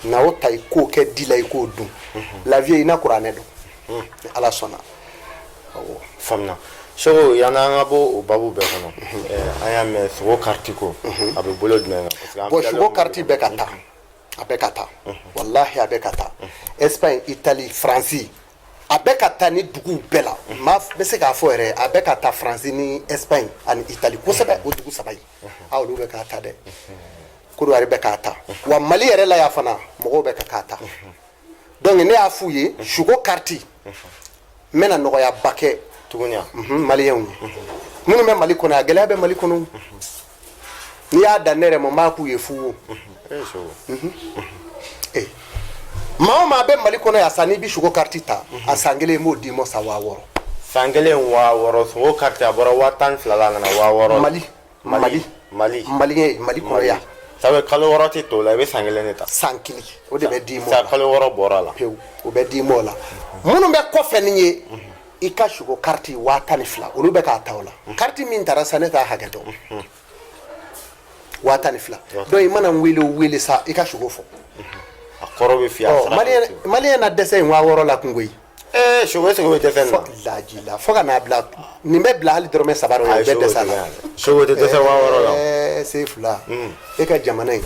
na o ta i k'o kɛ di la i k'o dun la vie i na kuranɛ dɔn ni ala sɔnna awɔ faamuna seko yanni an ka bɔ o babu bɛɛ kɔnɔ an y'a mɛn suko kariti ko a bɛ bolo jumɛn kan bon suko kariti bɛ ka taa a bɛ ka taa walahi a bɛ ka taa espagne italie faransi a bɛ ka taa ni duguw bɛɛ la maa bɛ se k'a fɔ yɛrɛ a bɛ ka taa faransi ni espagne ani italie kosɛbɛ o dugu saba in aa olu bɛ k'a ta dɛ kodowari bɛ k'a ta wa mali yɛrɛ la yan fana mɔgɔw bɛ ka k'a ta donc ne y'a f'u ye suko kariti n bɛna nɔgɔyaba kɛ tuguni mhm, maliyɛnw ye minnu bɛ mali kɔnɔ a gɛlɛya bɛ mali kɔnɔ n'i y'a dan ne yɛrɛ ma n b'a k'u ye fu wo maa o maa bɛ mali kɔnɔ yan sa n'i bɛ suko kariti ta a san kelen n b'o d'i ma sa waa wɔɔrɔ san kelen waa wɔɔrɔ suko kariti a bɔra waa tan ni fila la a nana waa wɔɔrɔ la. mali mali mali mali ye mali kɔnɔ yan sabu kalo wɔɔrɔ tɛ to o la i bɛ san kelen de ta san kelen o de bɛ d'i ma o la kalo wɔɔrɔ bɔra a la pewu o bɛ d'i ma o la minnu bɛ kɔfɛ nin ye i ka suko kariti waa tan ni fila olu bɛ k'a ta o la kariti min taara sa ne t'a hakɛ dɔn waa tan ni fila donc i mana n wele o wele sa i ka suko fɔ a kɔrɔ bɛ f'i maliyɛn na dɛsɛ in waa wɔɔrɔ la kungo ye ee sogo sogo bɛ dɛsɛ na laji la fo ka n'a bila nin bɛ bila hali dɔrɔmɛ saba o bɛɛ dɛsɛ la sogo tɛ dɛsɛ waa wɔɔrɔ la chef la e ka jamana in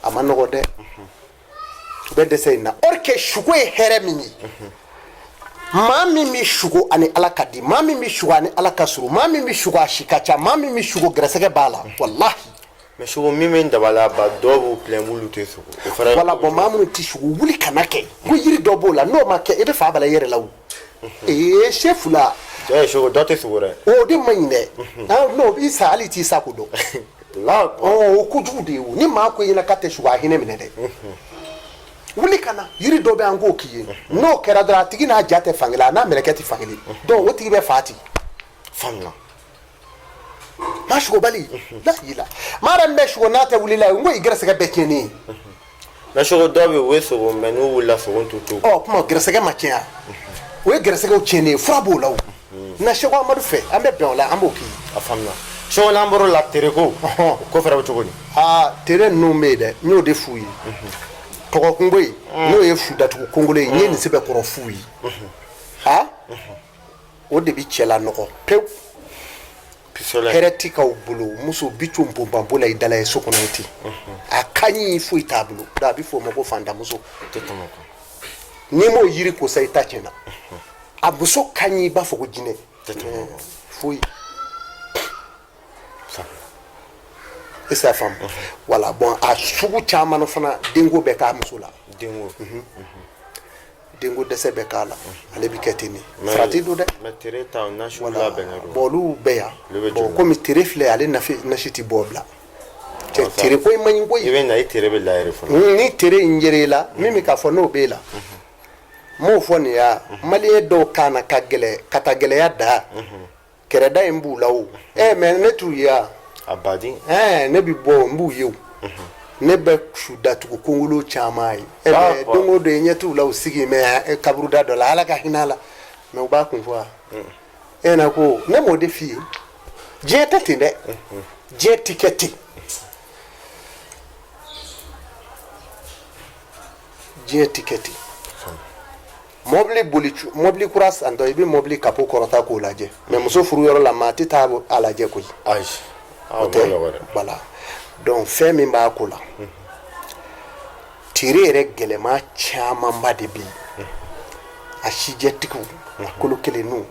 a ma nɔgɔ dɛ u bɛ dɛsɛ in na or que suko ye hɛrɛ min ye maa min bɛ suko ani ala ka di maa min bɛ suko ani ala ka surun maa min bɛ suko a si ka ca maa min bɛ suko gɛrɛsɛgɛ b'a la walahi mais suko min bɛ dabali ban dɔw b'u pilɛn k'olu tɛ suko wala bon maa minnu tɛ suko wuli kana kɛ ko yiri dɔ b'o la n'o ma kɛ i bɛ fa bala i yɛrɛ la o ee chef la dɔ tɛ suko dɛ o de man ɲi dɛ n'o bɛ sa hali t'i sa ko dɔn o kojugu de ye o ni maa ko i ɲɛna k'a tɛ suko a hinɛ minɛ dɛ wuli ka na yiri dɔ bɛ an k'o k'i ye n'o kɛra dɔrɔn a tigi n'a ja tɛ fankelen a n'a mɛlɛkɛ tɛ fankelen donc o tigi bɛ fa ten faamuya maa sukobali n'a y'i la maa yɛrɛ min bɛ suko n'a tɛ wuli la n ko i gɛrɛsɛgɛ bɛɛ tiɲɛnen ye mais suko dɔw bɛ yen u ye suko mais n'u wulila suko t'u to ɔ kuma gɛrɛsɛgɛ ma tiɲɛ o ye gɛrɛsɛgɛw tiɲɛnen ye fura b'o la o na seko amadu fɛ an bɛ bɛn o la an b'o k'i a faamuna seko n'an bɔr'o la tereko o ko fɛrɛ bɛ cogo di aa tere ninnu bɛ yen dɛ n y'o de f'u ye tɔgɔ kungo ye n'o ye fu datugu kongolo ye n ye nin sɛbɛn kɔrɔ f'u ye a o de bɛ cɛ lanɔgɔ pewu hɛrɛ ti k'aw bolo muso bi co bonbanbo la i dala ye so kɔnɔ ten a ka ɲi foyi t'a bolo a bɛ fɔ o ma ko fantamuso n'i m'o jiri ko sa i ta tiɲɛna a muso ka ɲi i b'a fɔ ko jinɛ foyi est-ce que a faamu voilà bon a sugu caman fana denko bɛ k'a muso la denko dɛsɛ bɛ k'a la ale bɛ kɛ ten de farati don dɛ bon olu bɛ yan bon kɔmi tere filɛ ale nasi tɛ bɔ bila tere ko in man ɲi koyi i bɛ na i tere bɛ la ni tere in yer'e la min bɛ k'a fɔ n'o bɛ e la n m'o fɔ nin yan maliyɛn dɔw ka na ka taa gɛlɛya da kɛrɛda in b'u la o ɛ mɛ ne t'u ye wa a baden ɛɛ ne bɛ bɔ n b'u ye o ne bɛ su datugu kongolo caman ye ɛ Ah, mɛ bon. don o don i ɲɛ t'u la u sigi mɛ ɛ, kaburuda dɔ la ala ka hinɛ a la mɛ u b'a kun fɔ wa e na ko ne m'o de f'i ye diɲɛ tɛ ten dɛ diɲɛ ti kɛ ten diɲɛ ti kɛ ten mɔbili boli mɔbili kura santɔ i bɛ mɔbili kapo kɔrɔta k'o lajɛ mɛ muso furu yɔrɔ la maa tɛ taa a lajɛ koyi o tɛ voilà donc fɛn min b'a ko la tere yɛrɛ gɛlɛma camanba de bɛ yen a sijɛtigiw a kolo kelenninw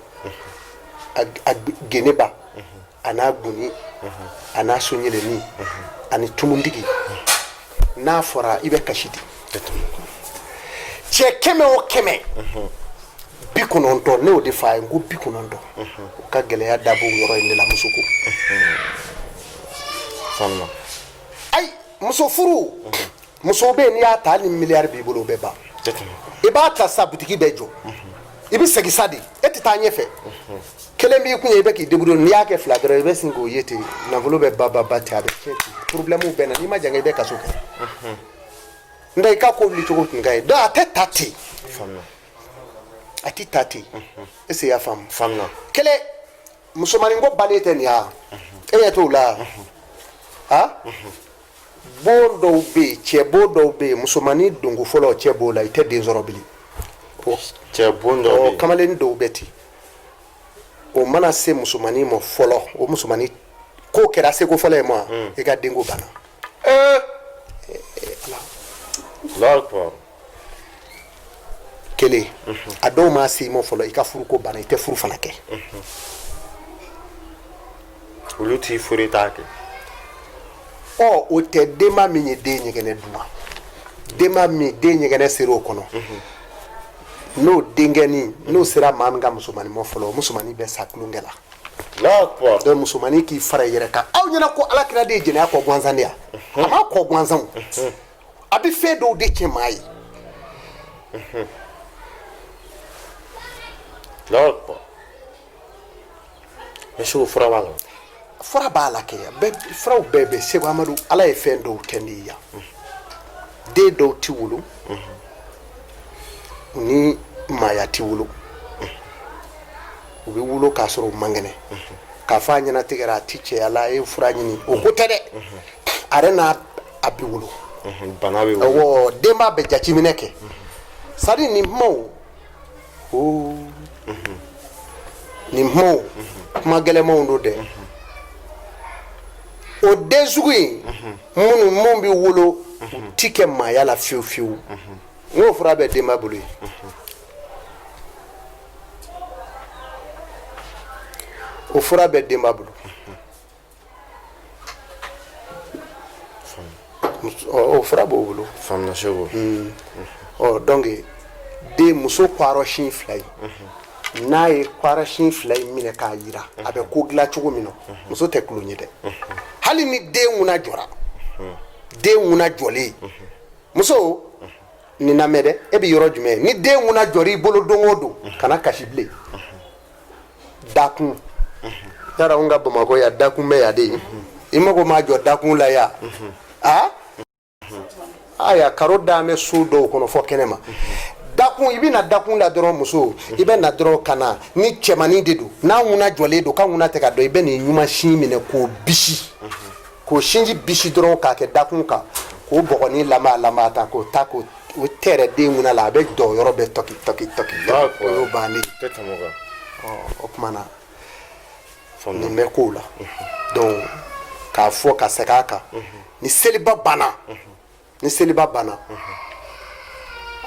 a geneba a n'a goni a n'a sonyɛlɛni ani tumutigi n'a fɔra i bɛ kasi di cɛ kɛmɛ o kɛmɛ bi kɔnɔntɔn ne y'o de f'a ye n ko bi kɔnɔntɔn u ka gɛlɛya dabɔ yɔrɔ in de la muso ko ayi muso furu muso bɛ yen n'i y'a ta ni miliyari b'i bolo o bɛ ban i b'a ta sa butigi bɛ jɔ i bɛ segin sa de e tɛ taa ɲɛfɛ kelen b'i kun ye i bɛ k'i débrouiller n'i y'a kɛ fila dɔrɔn i bɛ sin k'o ye ten nafolo bɛ ba ba ba ten a bɛ tiɲɛ ten porobilɛmu bɛ na n'i ma jan i bɛ kaso kɛ n tɛ i ka ko wuli cogo tun ka ɲi donc a tɛ ta ten a tɛ ta ten est-ce que i y'a faamu kelen musomanin ko bannen tɛ nin ya e ɲɛ t'o la ha bon dɔw bɛ yen cɛ bon dɔw bɛ yen musomannin donko fɔlɔ cɛ b'o la i tɛ den sɔrɔ bilen cɛ bon dɔw bɛ yen kamalennin dɔw bɛ ten o mana se musomannin ma fɔlɔ o musomannin ko kɛra seko fɔlɔ ye ma hmm. i ka denko banna ee eh, eh, eh, ala kelen a dɔw ma se i ma fɔlɔ i ka furuko banna i tɛ furu fana kɛ olu t'i furu i t'a kɛ ɔ o tɛ denba min ye den ɲɛgɛnɛ dun denba min den ɲɛgɛnɛ sera o kɔnɔ n'o denkɛni n'o sera maa min ka musomanin ma fɔlɔ o musomanin bɛ sa tulonkɛ la donc musomanin k'i fara i yɛrɛ kan aw ɲɛna ko ala kira de ye jɛnɛya kɔn gansan de ya a ma kɔn gansan a bɛ fɛn dɔw de cɛn maa ye monsieur fura b'a la fura b'a la kɛ bɛɛ furaw bɛɛ bɛ seku amadu ala ye fɛn dɔw kɛ ne ye yan den dɔw tɛ wolo ni maaya tɛ wolo u bɛ wolo k'a sɔrɔ u man kɛnɛ k'a fɔ a ɲɛnatigɛra a tɛ cɛya la a ye fura ɲini o ko tɛ dɛ a yɛrɛ n'a a bɛ wolo bana bɛ wolo denba bɛ jateminɛ kɛ c'est-à-dire nin kumaw o nin kumaw kuma gɛlɛnmanw don dɛ o den sugu in minnu minnu bɛ wolo u ti kɛ maaya la fiyewu fiyewu n k'o fura bɛ denba bolo yen o fura bɛ denba bolo o fura b'o bolo faamuna seku hmm. ɔ donc den muso kwarɔshin fila in mhm. n'a ye kwarɔshin fila in minɛ k'a yira a bɛ ko dilan cogo min na mhm. muso tɛ tulon ye dɛ mhm. hali ni den ŋuna jɔra den ŋuna jɔlen muso nin lamɛn dɛ e bɛ yɔrɔ jumɛn ni den ŋuna jɔra i bolo don o don kana kasi bilen dakun yala anw ka bamakɔ yan dakun bɛ yan de i mago ma jɔ dakun la yan aya karo dalen bɛ so dɔw kɔnɔ fɔ kɛnɛ ma dakun i bɛna dakun la dɔrɔn muso i bɛ na dɔrɔn ka na ni cɛmannin de don n'a ŋuna jɔlen don k'a ŋuna tɛ ka dɔn i bɛ nin numan sin minɛ k'o bisi k'o sinji bisi dɔrɔn k'a kɛ dakun kan k'o bɔgɔnin lama lama ta k'o ta k'o o tɛ yɛrɛ den ŋuna la a bɛ jɔ yɔrɔ bɛɛ tɔki tɔki tɔki o y'o bannen tɛ tɛmɛ o kan o tuma na nin bɛ k'o la donc k'a fɔ ka segin a kan ni seliba banna ni seliba banna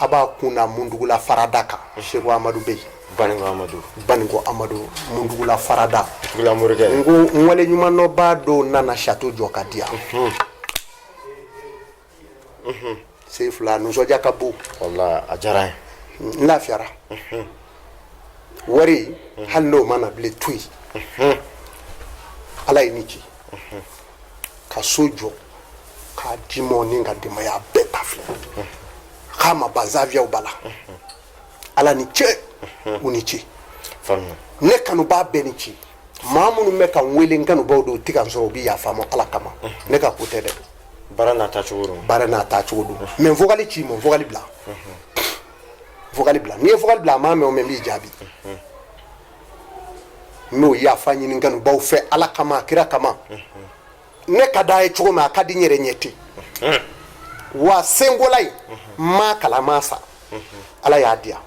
a b'a kun da mundugula farada kan seku amadu bɛ yen baninko amadu baninko amadu mundugula farada tugula morikɛ n ko n waleɲumandɔnbaa dɔw nana château jɔ ka di yan sen fila nisɔndiya ka bon wala a diyara n ye n lafiyara wari hali n'o ma na bilen to yen ala ye ni ci ka so jɔ k'a di n ma ni n ka denbaya bɛɛ ta filɛ k'a ma ban zaviyaw b'a la ala ni ce u ni ce ne kanubaa bɛɛ ni ci maa minnu bɛ ka n wele n kanubaw don u tɛ ka n sɔrɔ u bɛ yafa n ma ala kama ne ka ko tɛ dɛ baara n'a taacogo don baara n'a taacogo don mais n vocal ci n ma n vocal bila vocal bila n'i ye vocal bila a m'a mɛn o mɛn n b'i jaabi n b'o yafa ɲini n kanubaw fɛ ala kama kira kama ne ka d'a ye cogo min a ka di n yɛrɛ ye ten wa senkola in ma kala ma sa ala y'a diya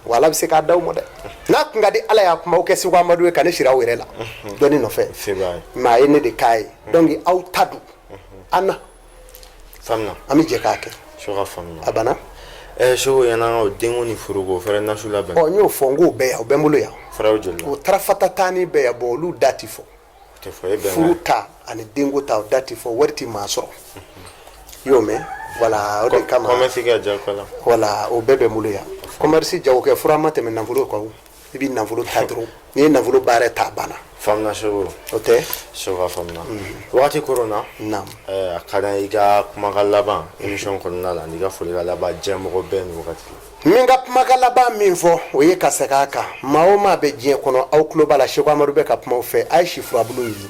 wa ala bɛ se k'a d'aw ma dɛ n'a kun ka di ala y'a kumaw kɛ Seko Amadu ye ka ne siri a yɛrɛ la dɔnni nɔfɛ mais a ye ne de k'a ye donc aw ta dun an na an bɛ jɛ k'a kɛ a banna Seko yan an ka denko ni furuko fɛnɛ nasi labɛn ɔ n y'o fɔ n k'o bɛɛ yan o bɛ n bolo yan o tarafata tan ni bɛɛ yan bon olu da tɛ fɔ furu ta ani denko ta da tɛ fɔ wari tɛ maa sɔrɔ i y'o mɛn wala o de kama wala o bɛɛ bɛ n bolo yan commerce jagokɛ fura ma tɛmɛ nafolo kan i bɛ nafolo ta dɔrɔn n'i ye nafolo baara ta banna faamuna Seko o tɛ Seko faamuna mm-hmm. wagati koronna naam eh, a ka d'an ye i ka kumakan laban mm-hmm. émission kɔnɔna la n'i ka folikan laban diɲɛmɔgɔ bɛɛ ni wagati Min ka kumakan laban min fɔ o ye ka segin a kan maa o maa bɛ diɲɛ kɔnɔ aw tulo b'a la Seko Amadu bɛ ka kuma aw fɛ a ye si furabulu ɲini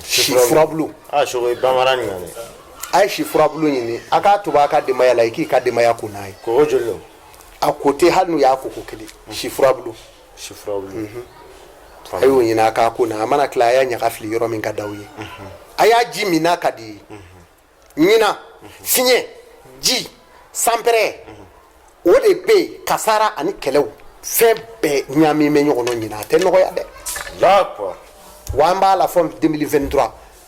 si furabulu a ye si furabulu ɲini a k'a tobi a ka denbaya la i k'i ka denbaya ko n'a ye a ko tɛ hali n'u y'a ko ko kelen si furabulu a y'o ɲini a k'a ko n'a a mana tila a y'a ɲaga fili yɔrɔ min ka d'aw ye a y'a ji min n'a ka d'i ye ɲinan fiɲɛ ji sanpɛrɛ o de bɛ yen kasara ani kɛlɛw fɛn bɛɛ ɲaaminen bɛ ɲɔgɔn na ɲinan a tɛ nɔgɔya dɛ d'accord wa an b'a la fɔ 2023